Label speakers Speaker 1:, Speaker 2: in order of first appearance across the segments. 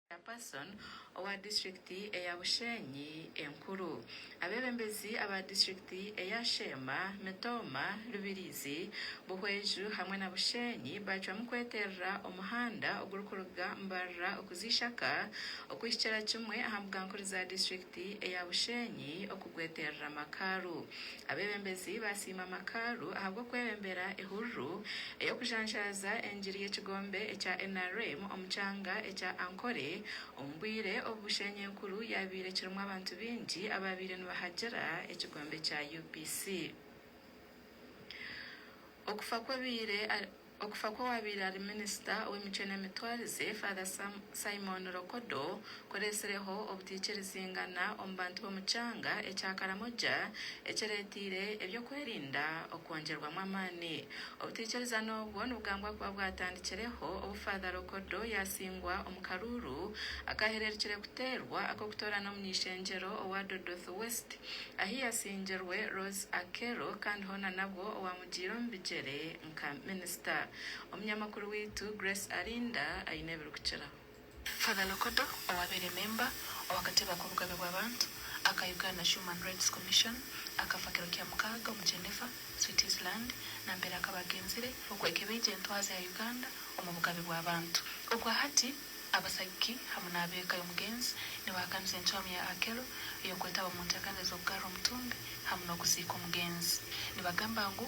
Speaker 1: Chairperson owa District eya Bushenyi enkuru, abebembezi aba District eya Sheema, Mitooma, Rubirizi, Buhweju hamwe na Bushenyi bacwamu kweterera omuhanda ogurikuruga Mbarara okuza Ishaka okuhikira kimwe aha mbugankuru za District. Gavumenti eya Bushenyi okugweterera amakaaru. Abebembezi basiima amakaaru ahabw'okwebembera ehururu ey'okujanjaaza engiri y'ekigombe ekya nrm omu kyanga ekya Ankole omu bwire obu Bushenyi enkuru yaabaire ekirimu abantu baingi abaabaire nibahagira ekigombe kya UPC. Okufa kw'abaire Okufa kw'owaabaire ari minisita ow'emicwe n'emitwarize, Father Sam Simon Lokodo, kureetsireho obutaikirizingana omu bantu b'omu kyanga ekya Karamoja, ekireeteire eby'okwerinda okwongyerwamu amaani. Obutaikirizana obwo nibugambwa kuba bwatandikireho obu Father Lokodo yaatsingwa omu karuuru akaahererukire kuteerwa ak'okutoorana omuny'eishengyero owa Dodothu West, ahu yaatsingirwe Rose Akello kandi hoona nabwo owaamugiire omu bigyere. nka minisita. Omunyamakuru waitu Grace Arinda aine ebirikukiraho. Father
Speaker 2: Lokodo owaabaire memba ow'akatebe k'obugabe bw'abantu aka Uganda Human Rights Commission akafa kiro kya mukaaga omu Geneva, Switzerland namperaq akaba agenzire okwekebeija entwaza ya Uganda omu bugabe bw'abantu. Ogwahati abasagiki hamu n'ab'eka y'omugenzi nibahakanisa encwamu ya Akello ey'okwetaba omu ntekaniza z'okugarra omutumbi hamu n'okuziika omugenzi. Nibagamba ngu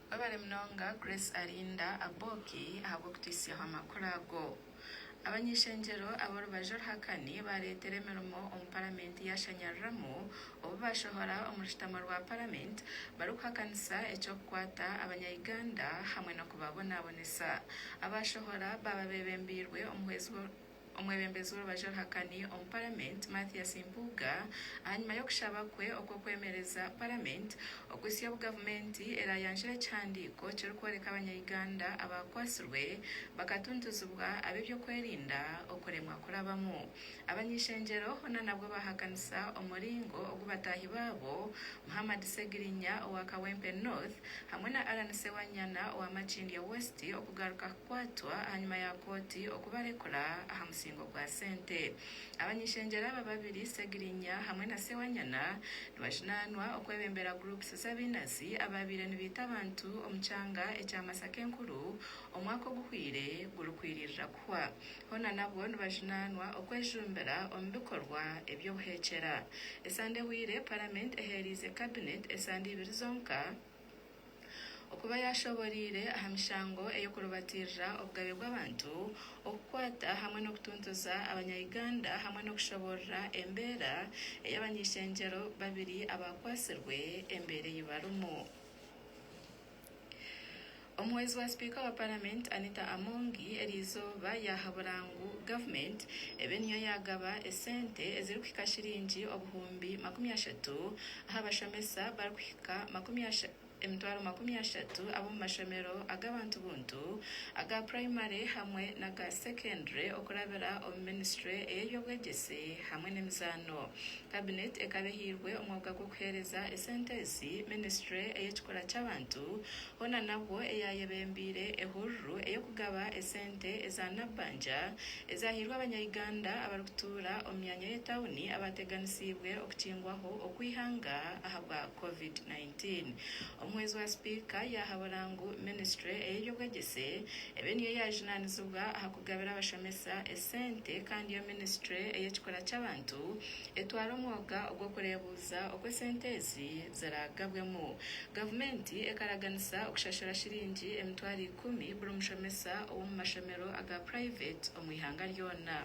Speaker 1: Webale munonga Grace Arinda Aboki ahabw'okutuhisyaho amakuru ago. Abany'ishengyero ab'orubaju oruhakani bareetera emirimo omu paramenti yaashanyariramu obu baashohora omu rushutamo rwa paramenti barikuhakanisa eky'okukwata abanya Uganda hamwe n'okubabonaabonesa. Abaashohora baaba beebembeirwe omuhwezi Omwebembezi w'orubaju oruhakani omu paramenti Mathias Mpuuga ahanyima y'okushaba kwe okw'okwemereza paramenti okuhitsya obu gavumenti erayanjure ekihandiiko kirikworeka abanya Uganda abakwatsirwe bakatuntuzibwa ab'ebyokwerinda okuremwa kurabamu abany'ishengyero hoona nabwo bahakanisa omuringo ogu bataahi baabo Muhammad Segirinya owa Kawempe North hamwe na Allan Sewanyana owa Makindye West okugaruka kukwatwa ahanyima ya kooti okubarekura aha musingo gwa sente. Abany'ishengyero aba babiri, Segirinya hamwe na Sewanyana, nibajunanwa okwebembera groups z'abinazi abaabaire nibaita abantu omu kyanga ekya Masaka Enkuru omwaka oguhweire gurikwiririra kuhwa. Hoona nabwo nibajunanwa okwejumbira omu bikorwa eby'obuhekyera. Esande ehweire, Parliament ehereize Cabinet esande ibiri zonka. okuba yaashoboreire aha mishango ey'okurubatiirira obugabe bw'abantu, okukwata hamwe n'okutuntuza abanya Uganda hamwe n'okushoboorora embeera ey'abany'ishengyero babiri abaakwatsirwe embeera ei barimu. Omuhwezi wa sipiika wa paramenti Anita Amongi erizooba yahabura ngu gavumenti ebe niyo yagaba esente ezirikuhika shiringi obuhumbi makumi ashatu aha bashomesa barikuhika emitwaro makumi ashatu ab'omu mashomero ag'abantu buntu aga purayimare hamwe n'aga sekendure okurabira omu minisitule ey'eby'obwegyesi hamwe n'emizaano. Kabineti ekaba ehairwe omwoga gw'okuheereza esente ezi minisitule ey'ekikura ky'abantu Hoona nabwo eyayebembeire ehururu ey'okugaba esente eza Nabbanja ezahairwe abanya-Uganda abarikutuura omu myanya y'etauni abaateganisiibwe okukingwaho okw'eihanga ahabwa Covid nineteen. Omuhwezi wa sipiika yaahabura ngu minisitule ey'eby'obwegyese ebe niyo yaajunanizibwa aha kugabira abashomesa esente kandi yo minisitule ey'ekikura ky'abantu etwara omwoga ogw'okureeba Kuhurikiza oku esente ezi ziraagabwemu, gavumenti ekaraganisa okushashura shiringi emitwaro ikumi buri mushomesa ow'omu mashomero aga purayiveti omu ihanga ryona.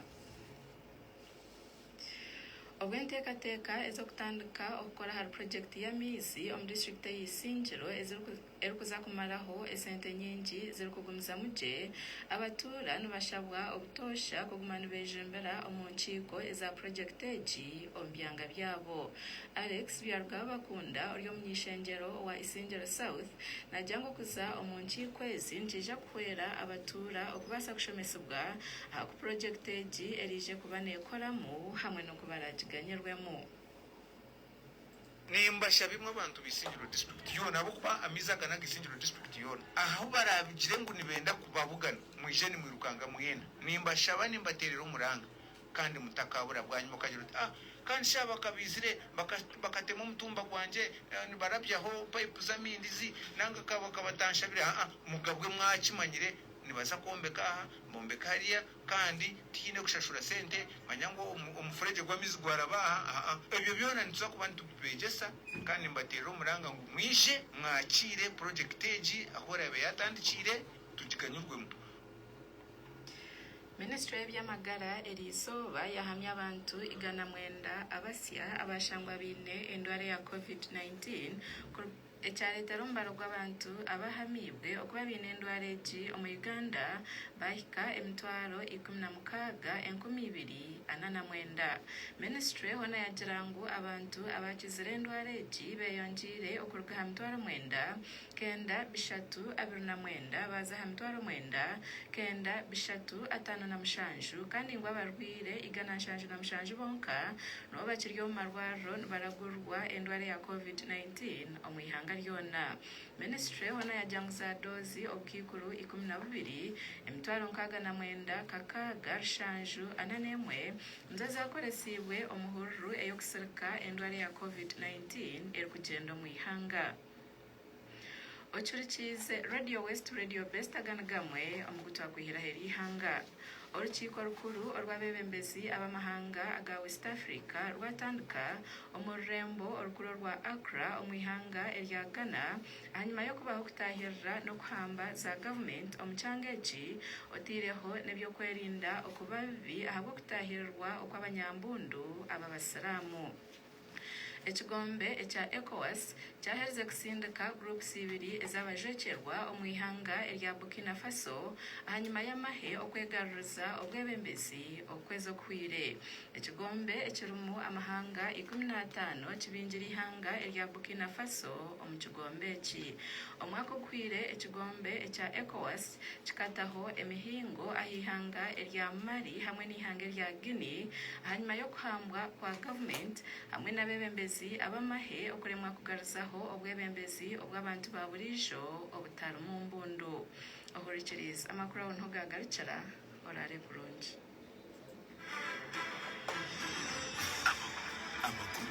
Speaker 1: Obwo enteekateeka ez'okutandika okukora ahari purojekiti y'amaizi omu disiturikiti ey'eisingiro eziri erikuza kumaraho esente nyingi zirikugumizamu gye, abatuura nibashabwa obutoosha kuguma nibejumbira omu nkiiko eza purojekiti egi omu byanga byabo. Alex Byarugaba Bakunda ori omuny'ishengyero owa Isingiro South nagya ngu okuza omu nkiiko ezi nikiija kuhwera abatuura okubaasa kushomesibwa aha ku purojekiti egi eriije kuba neekoramu hamwe n'oku baraagiganyirwemu.
Speaker 3: Nimbasha bimwe abantu b'Isingiro District yoona ahabw'okuba amaizi aga n'aga Isingiro District yoona. Ahu baraabigire ngu nibenda kubabugana, mwije nimwirukanga mwena. Nimbashaba nimbateerera omuranga kandi mutakaabura. Bwanyima okagira oti, Ah, kandi shi aba ka baizire bakatema omutumba gwangye nibarabyaho payipu z'amaizi nanga ka batanshabire? Aa, mugabwe mwakimanyire nibaza kwombeka aha, bombeke hariya. Kandi tihaine kushashura sente, manya ngu omufuregye gw'amaizi gwaraba aha, aha. Ebyo byona nituza kuba nitubibeegyesa, kandi nimbateerera omuranga ngu mwije mwakiire purojekiti egi ahu eraabe yaatandikiire, tugiganyirwemu.
Speaker 1: Minisitule y'eby'amagara eryo izooba yahamya abantu igana mwenda abasya abaashangwa baine endwara ya Covid nineteen, ekyareetera omubare gw'abantu abaahamiibwe okuba baine endwara egi omu Uganda baahika emitwaro ikumi na mukaaga, enkumi ibiri ana na mwenda. Minisitule hoona yaagira ngu abantu abaakizire endwara egi beeyongyeire okuruga aha mitwaro mwenda, kenda, bishatu, abiri na mwenda baaza aha mitwaro mwenda, kenda, bishatu, ataano na mushanju kandi ngu abarwaire igana nshanju na mushanju bonka nibo bakiri omu marwariro nibaragurirwa endwara ya Covid-19. COVID-19 omu ihanga ryona. Minisitule ehona yajanguza doozi obukaikuru ikumi na bubiri, emitwaro nkaaga na mwenda, kakaaga, rushanju, ana n'emwe, nizo zaakoresiibwe omu hururu ey'okusirika endwara ya COVID-19 erikugyenda omu ihanga. Ocurikiize Radio West Radio Best aga ni gamwe omu gu twakwihiraho eri ihanga. Orukiiko rukuru orw'abeebembezi ab'amahanga aga West Africa rwatandika omu rurembo orukuru orwa Accra omu ihanga erya Ghana ahanyima y'okubaho kutaahirira n'okuhamba za gavumenti omu kyanga eki otaireho n'eby'okwerinda okuba bibi ahabw'okutaahirirwa okw'abanyambundu ab'abasiramu. Ekigombe ekya Ecowas kyaherize kutsindika groups ibiri ez'abajwekyerwa omu ihanga erya Burkina Faso ahanyima y'amahe okwegaruriza obwebembezi okwezi okuhweire. Ekigombe ekirimu amahanga ikumi n'ataano kibingire ihanga erya Burkina Faso omu kigombe eki. Omwaka oguhweire ekigombe ekya Ecowas kikataho emihingo aha ihanga erya Mali hamwe n'eihanga erya Guinea ahanyima y'okuhambwa kwa gavumenti hamwe n'abebembezi ab'amahe okuremwa kugaruzaho obwebembezi obw'abantu ba buriijo obutarimu mbundu. Ohurikiriize, amakuru aho niho gaagarukira. Oraare kurungi.